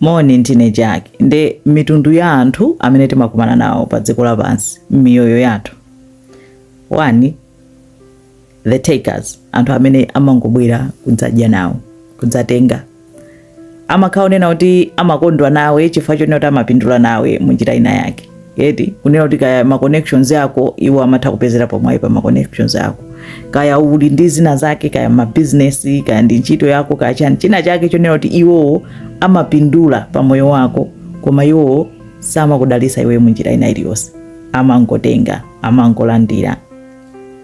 Moni, ndine Jack. Nde mitundu ya anthu amene timakumana nawo pa dziko lapansi m'miyoyo yathu. 1 the takers, anthu amene amangobwera kudzadya nawo, kudzatenga. Amakhala onena kuti amakondwa nawe chifukwa chonena kuti amapindula nawe mu njira ina yake. eti kunena kuti kaya ma connections ako iwo amatha kupezerapo mwayi pa ma connections ako kaya uli ndi zina zake kaya ma business kaya ndi ntchito yako kaya china chake chonena kuti iwowo amapindula pa moyo wako koma iwowo samakudalisa iwe munjira ina iliyonse amangotenga amangolandira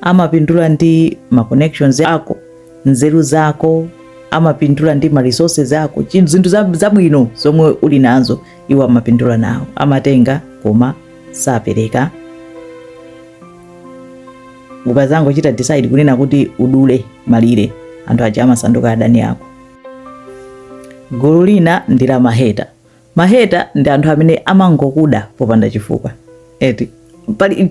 amapindula ndi ma connections ako nzeru zako amapindula ndi ma resources ako zinthu zabwino zomwe uli nazo iwo amapindula nazo amatenga koma sapereka ukazangochita decide kunena kuti udule malire anthu aja amasanduka adani ako gulu lina ndi la maheta maheta ndi anthu amene amangokuda popanda chifukwa eti pali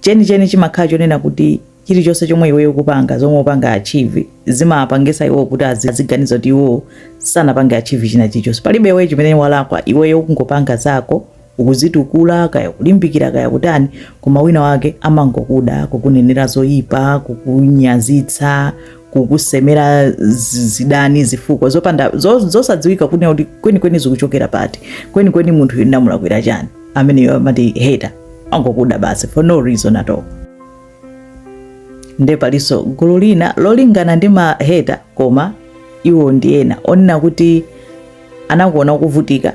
chenicheni chimakhala chonena kuti chilichonse chomwe iweyo ukupanga zomwe upanga achieve zimapangisa iwo kuti aziganiza kuti iwo sanapange achieve china chilichonse palibe iweyo chimene walakwa iweyo ukungopanga zako ukuzitukula kaya kulimbikira kaya kutani koma wina wake amangokuda kukunenera zoyipa kukunyazitsa kukusemera zidani zifukwa zopanda zosadziwika kunena kuti kwenikweni zikuchokera pati kwenikweni munthu yo unamulakwira chani ameneyo amati hater angokuda basi for no reason at all nde palinso gulu lina lolingana ndi maheta koma iwo ndi ena onena kuti anakuona ukuvutika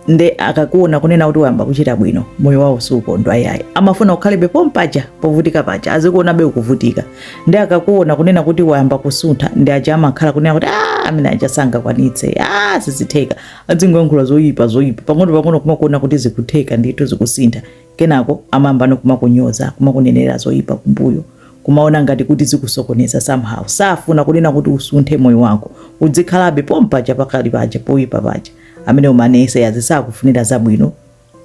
nde akakuona kunena kuti wayamba kuchita bwino moyo wawo siukondwa yayi amafuna ukhalebe pompaja povutika paja azikuonabe ukuvutika nde akakuona kunena kuti wayamba kusuntha ndi aja amakhala kunena kuti ah, amene aja sangakwanitse ah, sizitheka azingoyankhula zoyipa zoyipa pang'ono pang'ono kumakuona kuti zikutheka ndithu zikusintha Kenako amayambano kumakunyoza, kumakunenera zoipa kumbuyo, kumaona ngati kuti zikusokoneza somehow. Safuna kunena kuti usunthe moyo wako, udzikhalabe pompaja pakali paja, poipa paja. Amenewo ma naysayers sakufunira zabwino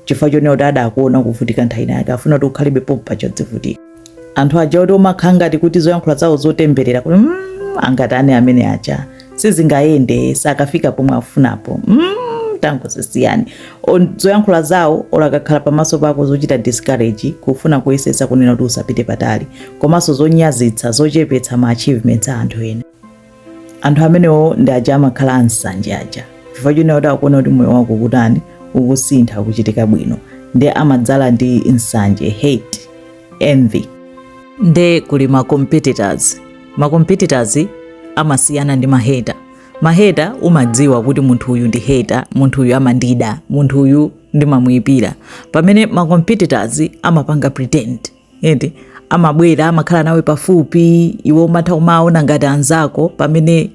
chifukwa chonena kuti adakuona ukuvutika nthawi inayake, afuna kuti ukhalebe pompaja udzivutika. anthu aja oti umakhala ngati kuti zoyankhula zawo zotemberera kuti mm, angatani amene aja sizingayende sakafika pomwe afunapo mm, tangozisiyani zoyankhula zawo olo akakhala pamaso pako zochita discourage kufuna kuyesesa kunena kuti usapite patali komanso zonyazitsa zochepetsa ma achievements a anthu ena anthu amenewo ndi aja amakhala ansanje aja chifukwa chonena kuti akuona kuti moyo wako kutani ukusintha kuchitika bwino ndi amadzala ndi nsanje hate envy nde kuli ma competitors ma competitors amasiyana ndi maheta maheta umadziwa kuti munthu uyu ndi heta munthu uyu amandida munthu uyu ndimamuyipira pamene ma competitors amapanga pretend eti amabwera amakhala nawe pafupi iwe umatha kumawaona ngati anzako pamene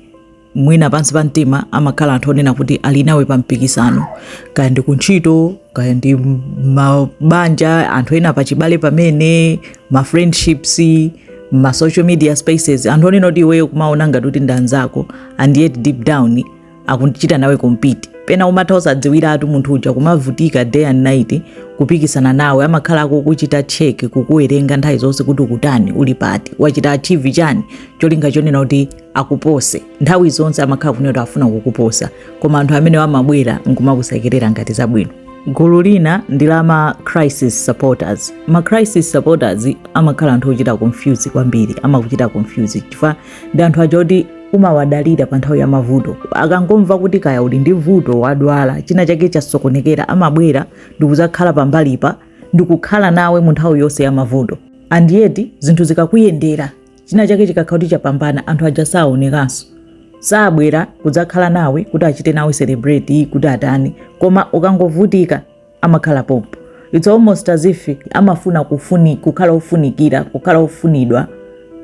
mwina pansi pa mtima amakhala anthu onena kuti ali nawe pa mpikisano kaya ndi kuntchito kaya ndi mabanja anthu ena pachibale pamene ma friendships ma social media spaces anthu onena kuti iweyo kumawaona ngati kuti ndi anzako and yet deep down akuchita nawe compete pena umatha usadziwiretu munthu uja kumavutika day and night kupikisana nawe amakhala akukuchita check kukuwerenga nthawi zonse kuti ukutani uli pati wachita achieve chani cholinga chonena kuti akupose nthawi zonse amakhala kunena kuti afuna kukuposa koma anthu amene amabwera nkumakusekerera ngati zabwino gulu lina ndi la ma crisis supporters ma crisis supporters amakhala anthu ochita confuse kwambiri amakuchita confuse chifukwa ndi anthu aja oti umawadalira pa nthawi ya mavuto akangomva kuti kaya uli ndi vuto wadwala china chake chasokonekera amabwera ndikuzakhala pambalipa ndikukhala nawe mu nthawi yonse ya mavuto and yet zinthu zikakuyendera china chake chikakhala kuti chapambana anthu aja saonekanso sabwera kuzakhala nawe kuti achite nawe celebrate kuti atani koma ukangovutika amakhala pompo it's almost as if amafuna kukhala ofunikira kukhala ofunidwa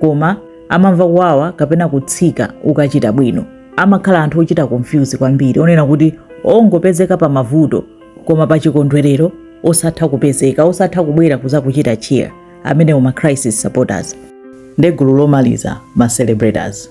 koma amamva kuwawa kapena kutsika ukachita bwino amakhala anthu ochita confuse kwambiri onena kuti ongopezeka pa mavuto koma pa chikondwerero osatha kupezeka osatha kubwera kuzakuchita cheer amenewo ma crisis supporters nde gulu lomaliza ma celebrators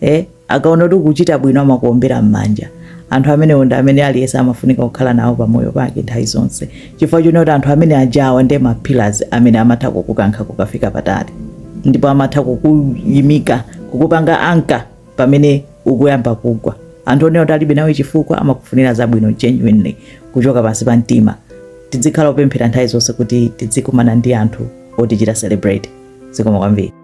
eh, akaona kuti ukuchita bwino amakuombera m'manja anthu amenewo ndi amene aliyense amafunika kukhala nawo pamoyo pake nthawi zonse chifukwa choti anthu amene ajawa ndi ma pillars amene amatha kukukankha kukafika patali ndipo amatha kukuyimika kukupanga anchor pamene ukuyamba kugwa anthu onena kuti alibe nawe chifukwa amakufunira zabwino genuinely kuchoka pansi pa mtima tidzikhala opemphera nthawi zonse kuti tidzikumana ndi anthu otichita celebrate zikomo kwambiri